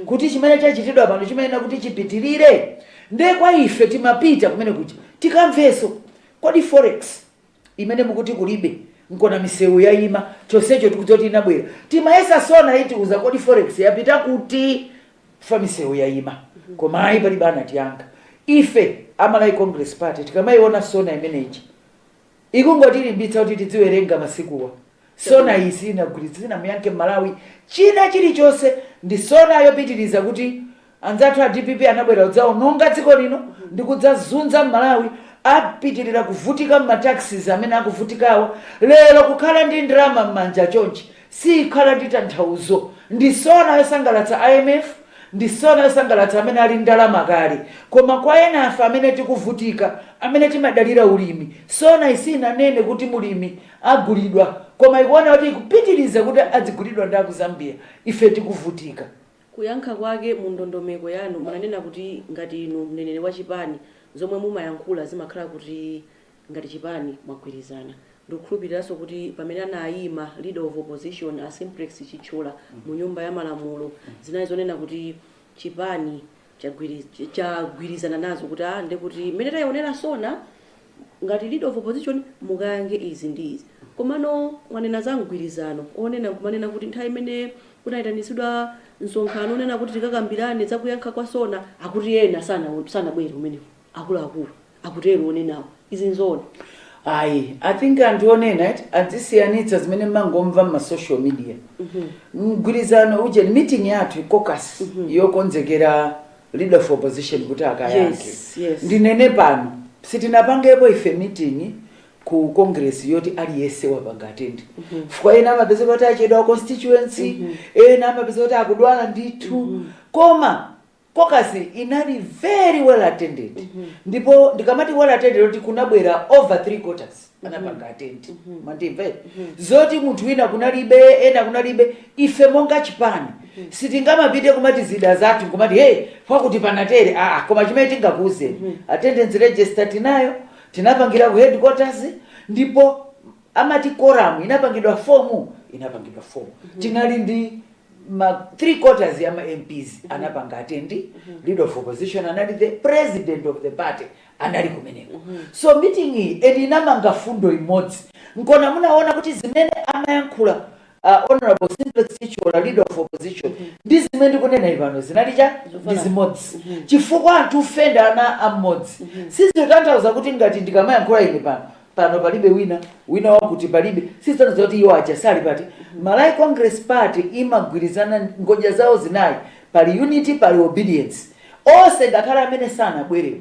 kuti chimene chachitidwa pano chimayenera kuti chipitilire? Nde kwa ife timapita kumene kuja tikamvenso Kodi forex imene mukuti kulibe nkona miseu yaima chonsecho tikudziwa kuti inabwera timayesa sona itiuza kodi forex yapita kuti chifukwa miseu yaima koma ayi palibe anatiyankha ife a Malawi Congress Party tikamaiona sona imene ija ikungotilimbitsa kuti tidziwerenga masikuwa Sona iyi siinagwiritsi sinamuyankhe Mmalawi china chilichonse ndi Sona yopitiliza kuti anzathu a dpp anabwera kudzaononga dziko lino ndi kudzazunza Mmalawi apitilira kuvutika mma taxes amene akuvutikawa lero kukhala ndi ndalama mmanja chonchi siikhala ndi tanthauzo ndi Sona yosangalatsa imf ndi Sona yosangalatsa amene ali ndalama kale koma kwa enafe amene tikuvutika amene timadalira ulimi Sona iyi siinanene kuti mulimi agulidwa koma ikuona kuti ikupitiliza kuti adzigulidwa ndi aku Zambia ife tikuvutika. Kuyankha kwake mu ndondomeko yanu munanena kuti ngati inu mneneri wa chipani zomwe mumayankhula zimakhala kuti ngati chipani mwagwirizana. Ndikukhulupiliranso kuti pamene anayima leader of opposition a Simplex Chithyola mu nyumba ya malamulo zinali zonena kuti chipani chagwirizana nazo kuti ah ndekuti mmene taionera sona ngati leader of opposition mukayankhe izi ndi izi komano mwanena za mgwirizano onena kumanena kuti nthawi imene kunaitanitsidwa msonkhano onena kuti tikakambirane za kuyankha kwa sona akuti ena sanabwere kumeneko akuluakulu akutero onenawo. Izi nzoona? Ayi, i think anthu onenawo adzisiyanitsa zimene mmangomva mma social media. Mgwirizano uje meeting yathu caucus yokonzekera leader of opposition kuti akayankhe. Yes, yes. Ndinene pano sitinapangepo ife meeting ku congress yoti aliyense wapanga attend. Chifukwa ena amapezeka kuti achedwa constituency, ena amapezeka kuti akudwala ndithu. Koma Caucus inali very well attended ndipo ndikamati well attended kuti kunabwera over three quarters anapanga attend mwandimva eti? zoti munthu wina kunalibe ena kunalibe ife monga chipani sitingamapite kumati zida zathu kumati hey pakuti panatere aa koma chimene tingakuuzeni attendance register tinayo tinapangira ku headquarters ndipo amati quorum inapangidwa form tinali ndi ma three quarters ya ma MPs anapanga attend leader of opposition anali the president of the party anali kumeneko so meeting iyi inamanga mfundo imodzi nkona munaona kuti zimene amayankhula uh, honorable simplex Chithyola leader of opposition ndi zimene ndikunena ine pano zinali cha ndi zimodzi chifukwa anthu ife ndi ana amodzi sizotanthauza kuti ngati ndikamayankhula ine pano pano palibe wina wina wakuti palibe sizitanthauza kuti iwo aja sali party malawi congress party imagwirizana ngodya zawo zinayi pali unity pali obedience onse ngakhale amene sanabwerewo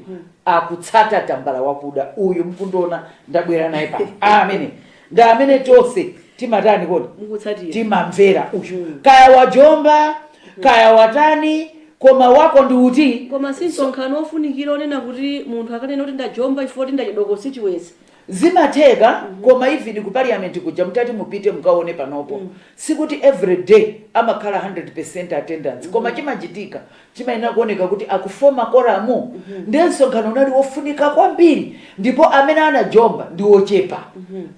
akutsata tambala wakuda uyu mkundiona ndabwera naye pano amene ndi amene tonse timatani kodi mukutsatira timamvera uyu kaya wajomba kaya watani koma wako ndi uti koma si msonkhano wofunikira onena kuti munthu akanena kuti ndajomba chifukwa kuti ndachedwako si chibwenzi zimatheka koma even ku parliament kuja mutati mupite mukaone panopo sikuti every day amakhala 100 percent attendance koma chimachitika chimayenera kuoneka kuti akufoma koramu ndiye msonkhano unali wofunika kwambiri ndipo amene anajomba ndi ochepa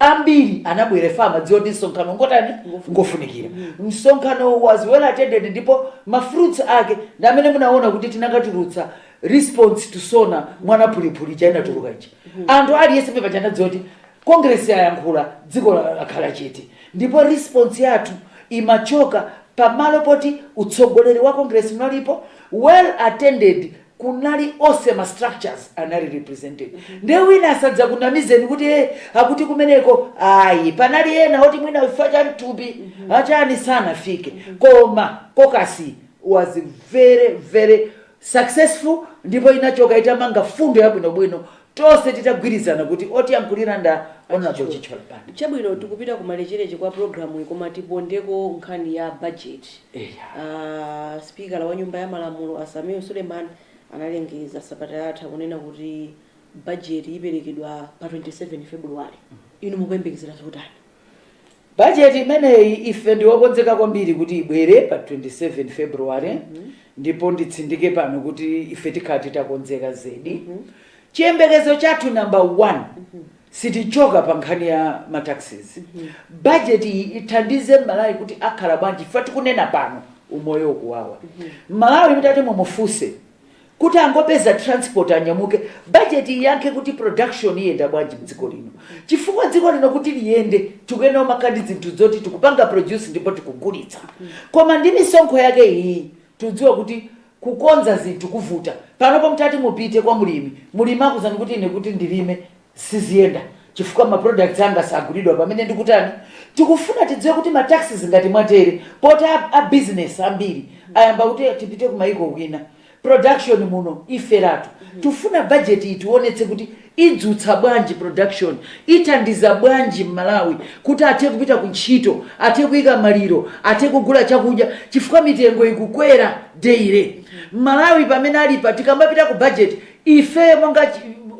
ambiri anabwera chifukwa amadziwa kuti msonkhano ngotani ngofunikira msonkhano was well attended ndipo mafruits ake ndi amene munaona kuti tinakatulutsa response to sona mwanapulipuli itatuluka ija anthu aliyense paja anadziwa kuti congress yayankhula dziko lakhala chete ndipo response yathu imachoka pamalo poti utsogoleri wa congress unalipo well attended kunali onse ma structures anali represented nde wina asadzakunamizeni kuti e akuti kumeneko ayi panali ena oti mwina chifukwa cha mthupi achani sanafike koma caucus was very very successful ndipo inachoka itamanga mfundo yabwinobwino Tonse titagwirizana kuti otiyankhulira nda Hon. Chithyola Banda. Chabwino tikupita kumalecheleche kwa pulogalamuyi koma tipondeko nkhani ya budget. Eya. A sipikala wa nyumba ya malamulo a Sameer Suleiman analengeza sabata yatha kunena kuti budget iperekedwa pa 27 Febuluwale. Inu mukuyembekezera zotani? Bajeti imeneyi ife ndi okonzeka kwambiri kuti ibwere pa 27 February ndipo nditsindike pano kuti ife tikhala titakonzeka zedi. Chiyembekezo chathu number one, sitichoka pa nkhani ya ma taxes. Bajeti iyi ithandize M'malawi kuti akhale bwanji chifukwa tikunena pano umoyo ukuwawa. M'malawi mutati mumufunse kuti angopeza transport anyamuke budget iyankhe kuti production iyenda bwanji mdziko lino chifukwa dziko lino kuti liyende tikuyenera kumakhala ndi zinthu zoti tikupanga produce ndipo tikugulitsa koma ndi misonkho yake iyi tidziwa kuti kukonza zinthu kuvuta panopo mutati mupite kwa mulimi mulimi akuuzani kuti ine kuti ndilime siziyenda chifukwa ma products anga sagulidwa pamene ndikutani tikufuna tidziwe kuti ma taxes ngati mwatere poti a business ambiri ayamba kuti tipite ku maiko kwina production muno iferatu tifuna budget itiwonetse kuti idzutsa bwanji production ithandiza bwanji m'malawi kuti athe kupita ku ntchito athe kuyika maliro athe kugula chakudya chifukwa mitengo ikukwera daily m'malawi pamene alipa tikamapita ku budget Ife monga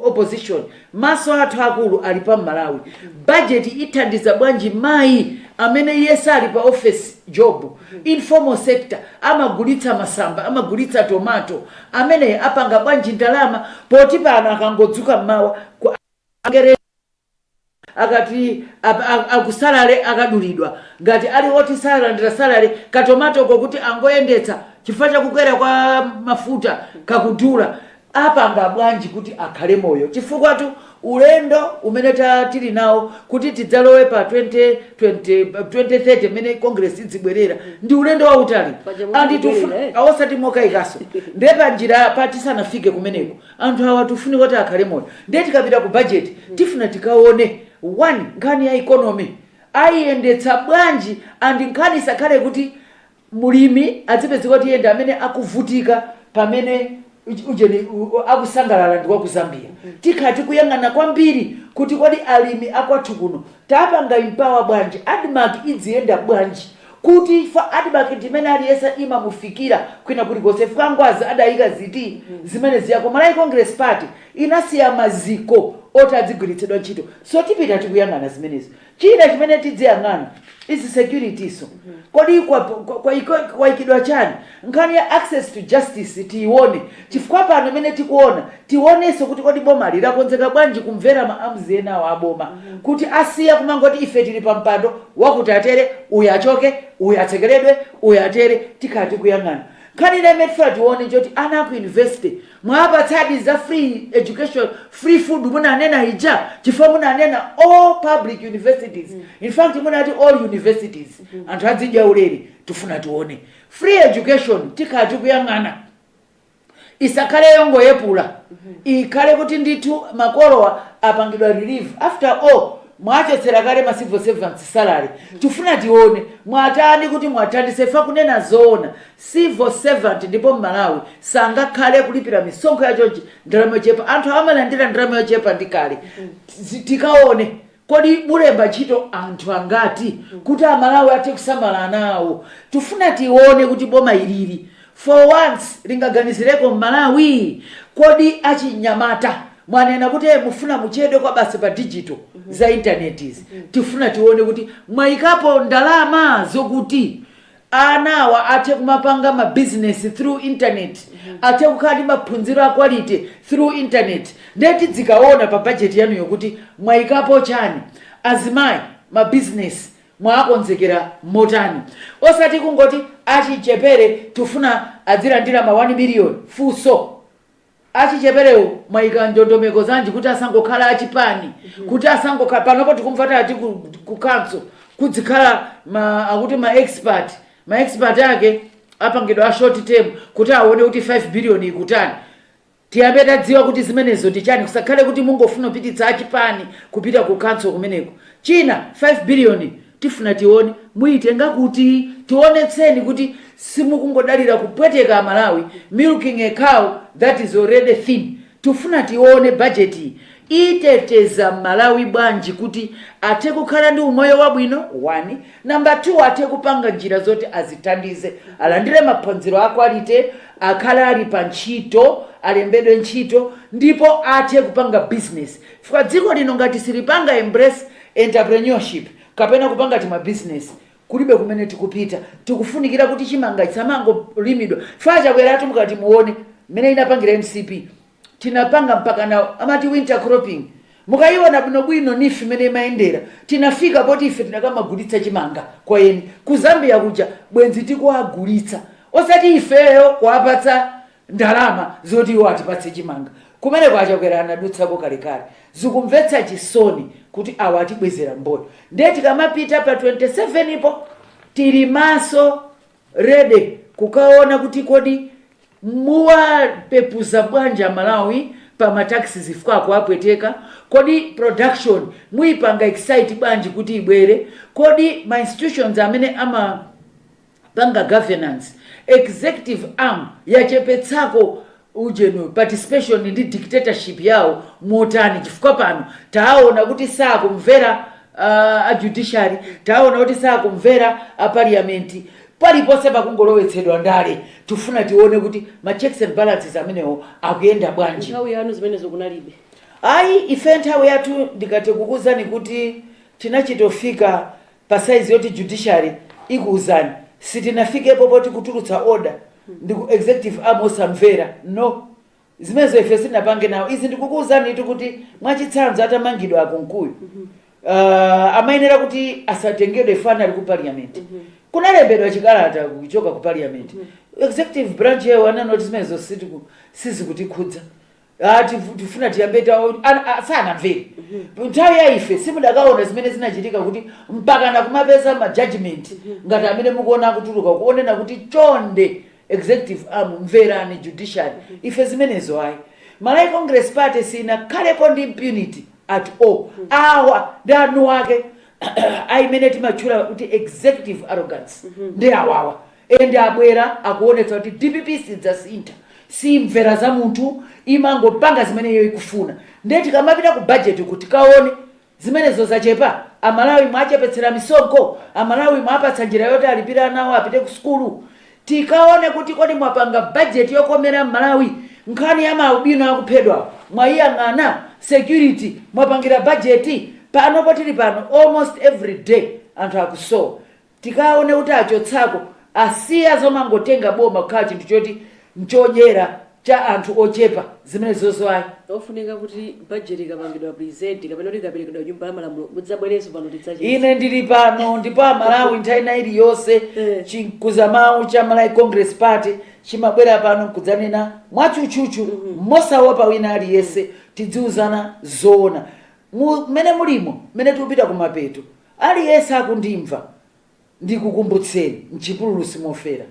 opposition maso athu akulu ali pa Malawi budget ithandiza bwanji mayi amene iye sali pa office job informal sector amagulitsa masamba amagulitsa tomato ameneyo apanga bwanji ndalama poti pano akangodzuka mmawa. akati akusalale akadulidwa ngati ali woti salandira salale, katomatoko kuti angoyendetsa chifukwa cha kukwera kwa mafuta kakudula, apanga bwanji kuti akhale moyo chifukwatu ulendo umene ta tili nawo kuti tidzalowe pa 2020 2030 pamene Congress idzibwerera ndi ulendo wautali Paja and mukubwerera, tifuna eh? osati mokayikaso nde panjirapa tisanafike kumeneko Anthu awa tufuna kuti akhale moyo ndiye tikapita ku budget tifuna tikaone one nkhani ya economy ayiyendetsa bwanji and nkhani isakhale kuti mlimi adzipezeka kuti iye ndi amene akuvutika pamene uj- ujeni u- u- akusangalala ndi wa ku Zambia tikhala tikuyang'ana kwambiri kuti kodi alimi akwathu kuno tapanga empower bwanji admarc idziyenda bwanji kuti chifukwa admarc ndi imene aliyese imamufikira kwina kulikonse chifukwa ngwazi adayika ndi izi zimene zija ku malawi congress party inasiya maziko oti adzigwiritsidwa ntchito so tipita tikuyang'ana zimenezo china chimene tidziyang'ana is security so kodi kwaikidwa chani Nkhani ya access to justice tiyione chifukwa pano mene tikuona tionenso kuti kodi bomali lakonzeka bwanji kumvera ma arms enawa a boma kuti asiye kumangoti ife tili pa mpando wakuti atere uyu achoke uyu atsekeredwe uyu atere tikhala tikuyang'ana. Nkhani ina imene tifuna tione njoti ana aku university mwawapatsadi za free education, free food munanena ija? Chifukwa munanena all public universities infact munati all universities anthu adzidya ulere tifuna tione Free education tikhala tikuyang'ana isakhale yongoyepula ikhale kuti ndithu makolowa apangidwe relieve after all mwachotsera kale ma civil servants salary tifuna tione mwatani kuti muwathandize fa kunena zoona civil servant ndipo mmalawi sangakhale kulipira misonkho yachonchi ndi ndalama yochepa anthu awa amalandira ndalama yochepa ndi kale tikaone Kodi mulemba ntchito anthu angati kuti amalawi athe kusamala ana awo? Tifuna tione kuti boma ilili for once lingaganizireko mmalawi? Kodi achinyamata mwanena kuti mufuna muchedwe kwabasi pa digital za internet izi tifuna tione kuti mwaikapo ndalama zokuti anawa athe kumapanga ma business through internet, athe kukhala ndi maphunziro a quality through internet, nde tidzikaona pa budget yanuyo kuti mwaikapo chani, azimayi ma business mwaakonzekera motani, osati kungoti achichepere tifuna adzilandira ma 1 million, funso. achicheperewo mwayika ndondomeko zanji kuti asangokhala achipani kuti asangokhala panopo tikumva kuti ati ku, ku council kudzikhala akuti ma expert ma expert ake apangidwe a short term kuti aone kuti 5 billion ikutani tiyambe tadziwa kuti zimenezo ndi chani kusakhale kuti mungofuna kupititsa achipani kupita ku council kumeneko China 5 billion tifuna tione muitenga kuti? Tionetseni kuti simukungodalira kupweteka amalawi, milking a cow that is already thin. Tifuna tione budget yi iteteza mmalawi bwanji kuti athe kukhala ndi umoyo wabwino 1, number 2 athe kupanga njira zoti azithandize, alandire maphunziro a quality, akhale ali pa ntchito, alembedwe ntchito ndipo athe kupanga business. Chifukwa dziko lino ngati silipanga embrace entrepreneurship kapena kupanga tima business kulibe kumene tikupita. Tikufunikira kuti chimanga chisamangolimidwa chifukwa achakweratu mukati muone mmene inapangira mcp tinapanga mpaka na amati winter cropping mukaiona bwinobwino neef mmene imayendera tinafika poti ife tikanamagulitsa chimanga kwa eni ku Zambia kuja bwenzi tikuwagulitsa osati ifeyo kuwapatsa ndalama zoti iwo atipatse chimanga kumeneko achakwera anadutsako kalekale zikumvetsa chisoni kuti awa atibwezera mboyo nde tikamapita pa 27 po tili maso ready kukaona kuti kodi muwapepuza bwanji amalawi pa ma taxes chifukwa zikuwapweteka kodi production muipanga excite bwanji kuti ibwere kodi ma institutions amene ama panga governance, executive arm yachepetsako ujenu, participation ndi dictatorship yawo motani chifukwa pano taawona kuti saakumvera a judiciary, taawona kuti saakumvera a parliament, paliponse pakungolowetsedwa ndale. Tikufuna tione kuti ma checks and balances amenewo akuyenda bwanji. Nthawi yanu zimenezo kunalibe? Ayi, ife nthawi yathu ndikati ndikuuzeni kuti tinachitofika pa size yoti judiciary ikuuzani sitinafikepo poti kutulutsa order ndi ku executive arm osamvera no zimenezo ife sitinapange nawo izi ndikukuuzanitu kuti mwachitsanzo atamangidwa akunkuyu uh, amayenera kuti asatengedwe chifukwa anali ku parliament kunalembedwa chikalata kuchoka ku parliament executive branch yawo ananena kuti zimenezo sitiku- sizikutikhudza Ah, tifu- tifuna tiyambe tawo ana- a- sanamvere nthawi ya ife simudakaona zimene zinachitika kuti mpaka na kumapeza ma judgment ngati amene mukuona akutuluka kunena kuti chonde executive arm mverani judiciary ife zimenezo ayi malawi congress party sinakhalepo ndi impunity at all awa ndi eni ake ayimene timatchula kuti executive arrogance ndi awawa end abwera akuonetsa kuti dpp sidzasintha, simvera za munthu, imangopanga zimene iyo ikufuna nde tikamapita ku budget uku tikaone zimenezo zachepa? amalawi mwachepetsera misonkho? amalawi mwapatsa njira yoti alipire ana awo apite ku sukulu? tikaone kuti kodi mwapanga budget yokomera mmalawi? nkhani ya ma albino akuphedwa mwaiyang'ana? security mwapangira budget? panopo tili pano almost everyday anthu akusowa. Tikaone kuti achotsako asiya zomangotenga boma kukhala chinthu choti ndi chodyera cha anthu ochepa zimenezozo ayi. Nkofunika kuti budget ikapangidwa present kapena kuti ikaperekedwa ku nyumba ya malamulo mudzabwerenso pano tidzacheze. Ine ndili pano ndipo a Malawi nthawi ina iliyonse chinkuzamawu cha Malawi Congress Party chimabwera pano nkudzanena mwatchutchutchu mosaopa wina aliyense tidziuzana zoona mmene mulimo mmene tikupita kumapeto. Aliyense akundimva, ndikukumbutseni, m'chipululu simofera.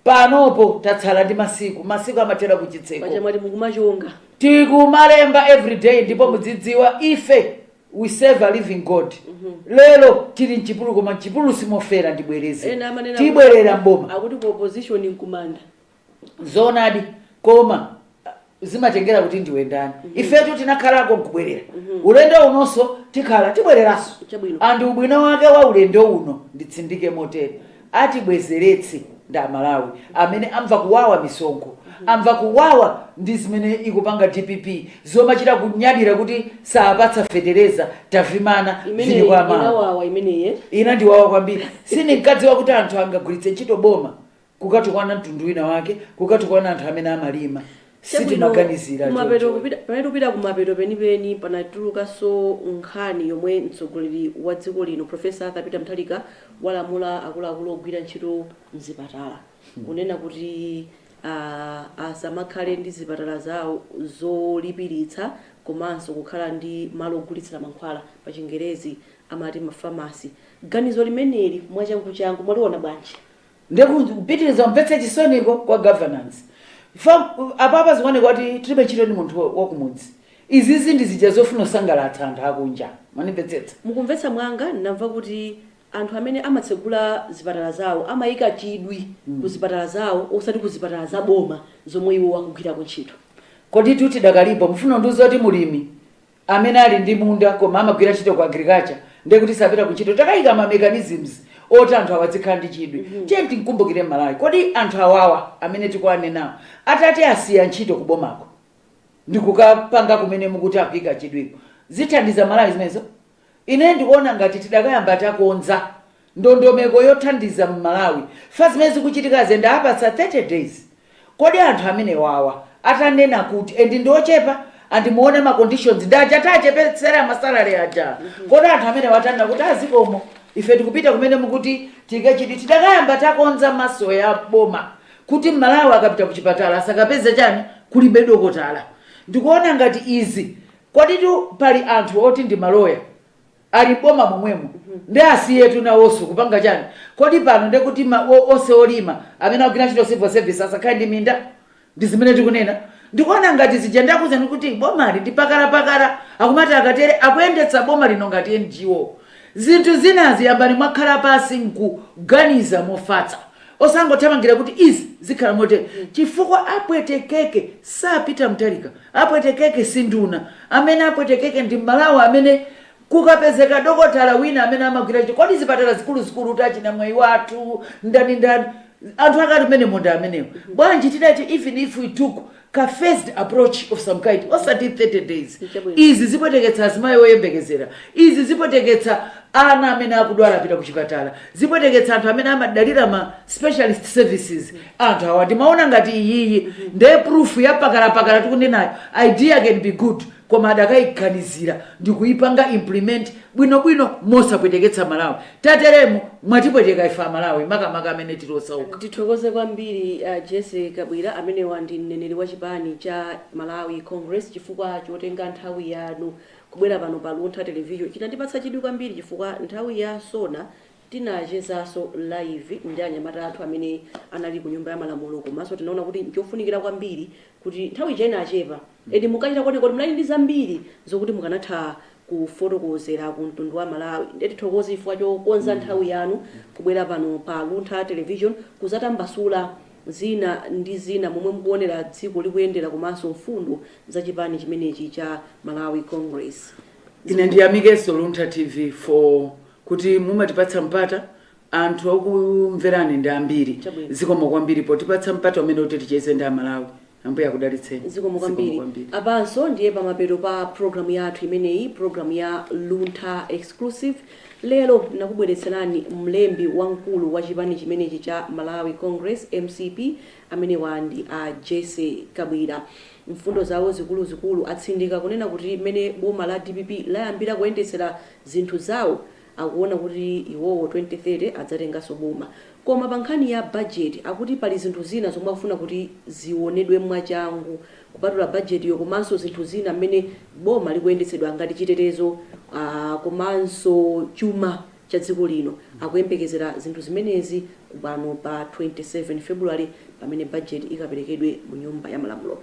Panopo tatsala ndi masiku, masiku amathera kuchitseko. Paja mwati mukumachonga. Tikumalemba everyday ndipo mudzidziwa ife we serve a living God. Lero tili m'chipululu koma m'chipululu simofera ndibwereze. Ena amanena kuti Tibwerera m'boma. akuti ku opposition nkumanda. zoonadi koma ah, zimatengera kuti ndiwe ndani ifetu tinakhalako nkubwerera ulendo unonso tikhala tibwereranso Chabwino. and ubwino wake wa ulendo uno nditsindike motero atibwezeretse ndi amalawi amene amva kuwawa misonkho amva kuwawa ndi zimene ikupanga dpp zomachita kunyadira kuti saapatsa fetereza tavimana imeneyi zili kwa mama inawawa imeneyi eh? inandiwawa kwambiri sindinkadziwa kuti anthu angagwiritse ntchito boma kukatukwana mtundu wina wake kukatukwana anthu amene amalima sitimaganizira kumapeto choncho. kupita pamene tikupita kumapeto penipeni panatulukanso nkhani yomwe mtsogoleri wa dziko lino profesa arthur peter mutharika walamula akuluakulu ogwira ntchito mzipatala kunena kuti ah, asamakhale ndi zipatala zawo zolipiritsa komanso kukhala ndi malo ogulitsira mankhwala pa chingerezi amati mafamasi ganizo limeneli mwachanguchangu mwaliona bwanji Ndiye kupitiliza kumvetsa chisoniko kwa governance apapa zikuoneka ngati tilibe ntchito ndi munthu wakumudzi. Izizi ndi zija zofuna kusangalatsa anthu akunja mwandimvetsetsa. Mukumvetsa mwangondimva kuti anthu amene amatsegula zipatala zawo amayika chidwi ku zipatala zawo osati ku zipatala za boma zomwe iwo akugwirako ntchito. Koditu tidakalipo, mufuna kundiuza kuti mulimi amene ali ndi munda koma amagwira ntchito ku agriculture ndiye kuti sapita ku ntchito takayika ma mechanisms oti anthu awa adzikhala ndi chidwi tiye timkumbukire m'malawi kodi anthu awawa amene tikuwanenawo atati asiya ntchito ku bomako ndikukapanga kumene mukuti akuyika chidwiko zithandiza mmalawi zimenezo ine ndikuona ngati tidakayamba takonza ndondomeko yothandiza mmalawi fa zimene zikuchitikazi and awapatsa 30 days kodi anthu amenewawa atanena kuti and ndiochepa and muone ma conditions ndi aja taachepetsera ma salary aja kodi anthu amenewa atanena kuti azikomo ife tikupita kumene mukuti tikachiti tidakayamba takonza maso ya boma kuti mmalawi akapita kuchipatala asakapeze chani kulibe dokotala ndikuona ngati izi koditu pali anthu oti ndi maloya Ali m'boma momwemo nde asiyetu nawonso kupanga chani kodi pano ndekuti onse olima amene akugwira ntchito civil service asakhale ndi minda ndizimene tikunena ndikuona ngati zija ndakuuzani kuti bomali ndi pakala pakala akumati akatere akuyendetsa boma lino ngati NGO zinthu zinazi yambani mwakhala pasi nkuganiza mofatsa Osangothamangira kuti izi zikhala motere chifukwa apwetekeke sa Peter Mutharika, apwetekeke si nduna, amene apwetekeke ndi Mmalawi amene kukapezeka dokotala wina amene amagwira ntchito, kodi zipatala zikuluzikulu ta achina Mwaiwathu, ndani ndani, anthu ake ati mmenemo nda amenewo, bwanji tinati even if we took ka phased approach of some kind osati 30 days izi zipweteketsa azimayi oyembekezera izi zipweteketsa ana amene akudwala apita kuchipatala zipweteketsa anthu amene amadalira ma specialist services anthu awa ndimaona ngati iyiyi ndiye proof yapakalapakala tikunenayo idea can be good koma adakaiganizira ndikuipanga implement bwinobwino mosapweteketsa Mmalawi. Tateremu mwatipweteka ife Amalawi makamaka amene tili osauka. Tithokoze kwambiri a Jessie Kabwila amenewa ndi mneneri wa chipani cha Malawi Congress chifukwa chotenga nthawi yanu kubwera pano pa Luntha Television. Chinandipatsa chidwi kwambiri chifukwa nthawi ya SONA Tinachezaso live ndi anyamata athu amene anali ku nyumba ya malamulo komaso tinaona kuti nchofunikira kwambiri kuti nthawi ija inachepa and munkachita kuoneka kuti munali ndi zambiri zokuti mukanatha kufotokozera ku mtundu wa Amalawi nde tithokoze chifukwa chokonza nthawi yanu kubwera pano pa Luntha Television kuzatambasula zina ndi zina momwe mukuonera dziko likuyendera komanso mfundo za chipani chimenechi cha Malawi Congress. Ine ndiyamikeso Luntha TV for kuti mumatipatsa mpata anthu okumverani ndi ambiri zikomo kwambiri potipatsa mpata umenewu kuti ticheze ndi amalawi ambuye akudalitseni zikomo kwambiri apanso ndiye pamapeto pa programu yathu imeneyi programu ya luntha exclusive lero nakubweretserani mlembi wamkulu wa chipani chimenechi cha malawi congress mcp amenewa ndi a jessie kabwila mfundo zawo zikuluzikulu atsindika kunena kuti mmene boma la dpp layambira kuyendetsera zinthu zawo akuona kuti iwowo 2030 adzatenganso boma koma pa nkhani ya budget akuti pali zinthu zina zomwe akufuna kuti zionedwe mwachangu kupatula budget yo komanso zinthu zina mmene boma likuyendetsedwa ngati chitetezo aah komanso chuma cha dziko lino akuyembekezera zinthu zimenezi pano pa 27 February pamene budget ikaperekedwe mu nyumba ya malamulo.